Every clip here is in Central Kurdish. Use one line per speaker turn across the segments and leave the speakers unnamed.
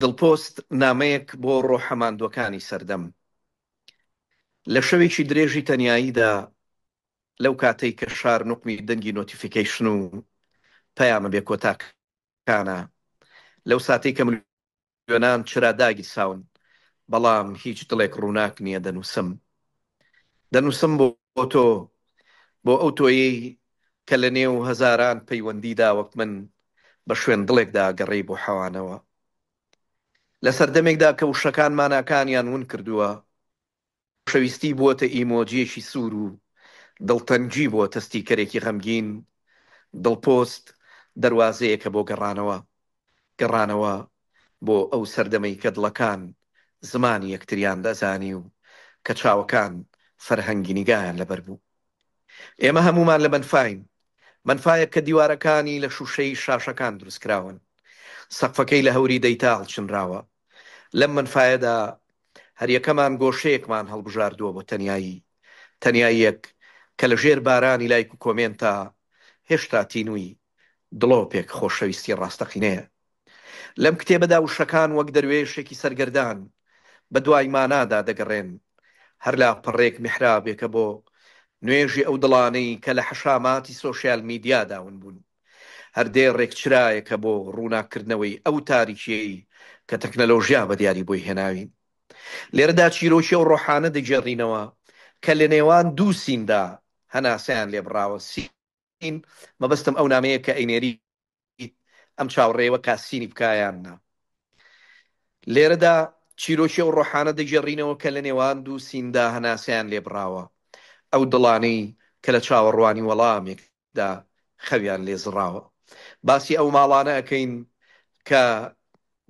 دڵپۆست، نامەیەک بۆ ڕۆحە ماندووەکانی سەردەم. لە شەوێکی درێژی تەنیاییدا، لەو کاتەی کە شار نوقمی دەنگی نۆتیفیکەیشن و پەیامە بێکۆتاکانە، لەو ساتەی کە ملیۆنان چرا داگیرساون، بەڵام هیچ دڵێک ڕووناک نییە، دەنووسم. دەنووسم بۆ تۆ، بۆ ئەو تۆیەی کە لە نێو هەزاران پەیوەندیدا وەک من بە شوێن دڵێکدا گەڕێی بۆ حەوانەوە. لە سەردەمێکدا کە وشەکان ماناکانیان ون کردووە، خۆشەویستی بووەتە ئیمۆجییەکی سوور و دڵتەنگی بووەتە ستیکەرێکی غەمگین، دڵپۆست دەروازەیەکە بۆ گەڕانەوە، گەڕانەوە بۆ ئەو سەردەمەی کە دڵەکان زمانی یەکتریان دەزانی و کە چاوەکان فەرهەنگی نیگایان لەبەر بوو. ئێمە هەموومان لە مەنفاین، مەنفایەک کە دیوارەکانی لە شووشەی شاشەکان دروستکراون، سەقفەکەی لە هەوری دەیتا هەڵچنراوە. لەم مەنفایەدا هەریەکەمان گۆشەیەکمان هەڵبژاردووە بۆ تەنیایی، تەنیاییەک کە لە ژێر بارانی لایک و کۆمێنتا هێشتا تینووی دڵۆپێک خۆشەویستی ڕاستەقینەیە. لەم کتێبەدا وشەکان وەک دەروێشێکی سەرگەردان بە دوای مانادا دەگەڕێن، هەر لاپەڕەیەک میحرابێکە بۆ نوێژی ئەو دڵانەی کە لە حەشاماتی سۆشیال میدیادا ون بوون، هەر دێڕێک چرایەکە بۆ ڕووناککردنەوەی ئەو تاریکییەی کە تەکنەلۆژیا بە دیاری بۆی هێناوین. لێرەدا چیرۆکی ئەو ڕۆحانە دەگێڕینەوە کە لە نێوان دوو سیندا هەناسەیان لێبڕاوە، سینی. نین مەبەستم ئەو نامەیە کە ئەینێریت ئەم چاوڕێوە کاسینی بکا یان نا لێرەدا چیرۆکی ئەو ڕۆحانە دەگێڕینەوە کە لە نێوان دوو سیندا هەناسەیان لێبڕاوە ئەو دڵانەی کە لە چاوەڕوانی وەڵامێکدا خەویان لێزڕاوە باسی ئەو ماڵانە ئەکەین کە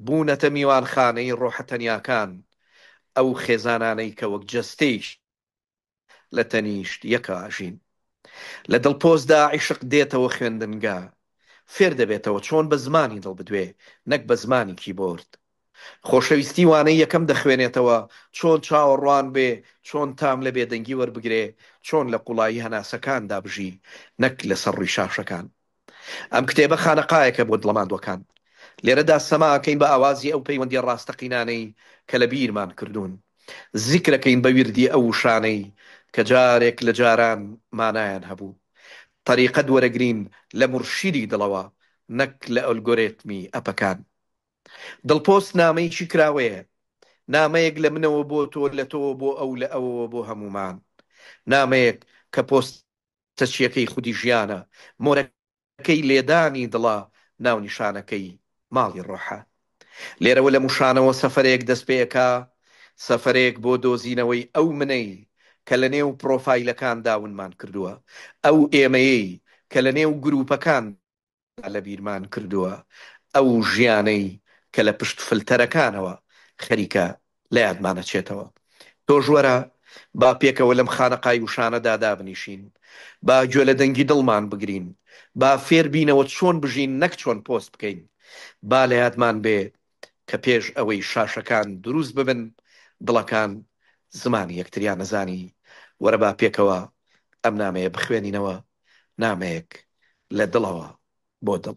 بوونەتە میوانخانەی ڕۆحە تەنیاکان ئەو خێزانانەی کە وەک جەستەیەکی لە تەنیشت یەکا ئەژین. لە دڵپۆزدا عیشق دێتەوە خوێندنگا فێر دەبێتەوە چۆن بە زمانی دڵ بدوێ نەک بە زمانی کیبۆرد. خۆشەویستی وانەی یەکەم دەخوێنێتەوە چۆن چاوەڕوان بێ چۆن تام لە بێدەنگی وەربگرێ چۆن لە قوڵایی هەناسەکاندا بژی نەک لەسەر ڕووی شاشەکان. ئەم کتێبە خانەقایەکە بۆ دڵە ماندووەکان. لێرەدا سەما ئەکەین بە ئاوازی ئەو پەیوەندیە ڕاستەقینانەی کە لە بیرمان کردوون. زیکر ئەکەین بە ویردی ئەو وشانەی کە جارێک لە جاران مانایان هەبوو. تەریقەت وەرەگرین لە مورشیدی دڵەوە نەک لە ئەلگۆرێتمی ئەپەکان. دڵپۆست نامەیەکی کراوەیە. نامەیەک لە منەوە بۆ تۆ، لە تۆوە بۆ ئەو، لە ئەوەوە بۆ هەموومان. نامەیەک کە پۆست. تەچیەکەی خودی ژیانە، مۆرەکەی لێدانی دڵە، ناونیشانەکەی ماڵی ڕۆحە. لێرەوە لەم وشانەوە سەفەرێک دەست پێئەکا، سەفەرێک بۆ دۆزینەوەی ئەو منەی کە لە نێو پڕۆفایلەکاندا ونمان کردووە، ئەو ئێمەیەی کە لە نێو گرووپەکان لەبیرمان کردووە ئەو ژیانەی کە لە پشت فلتەرەکانەوە خەریکە لە یادمان ئەچێتەوە تۆش وەرە با پێکەوە لەم خانەقای وشانەدا دابنیشین با گوێ لە دەنگی دڵمان بگرین با فێر بینەوە چۆن بژین نەک چۆن پۆست بکەین با لە یادمان بێ کە پێش ئەوەی شاشەکان دروست ببن دڵەکان زمانی یەکتریان ئەزانی وەرە با پێکەوە ئەم نامەیە بخوێنینەوە نامەیەک لە دڵەوە بۆ دڵ.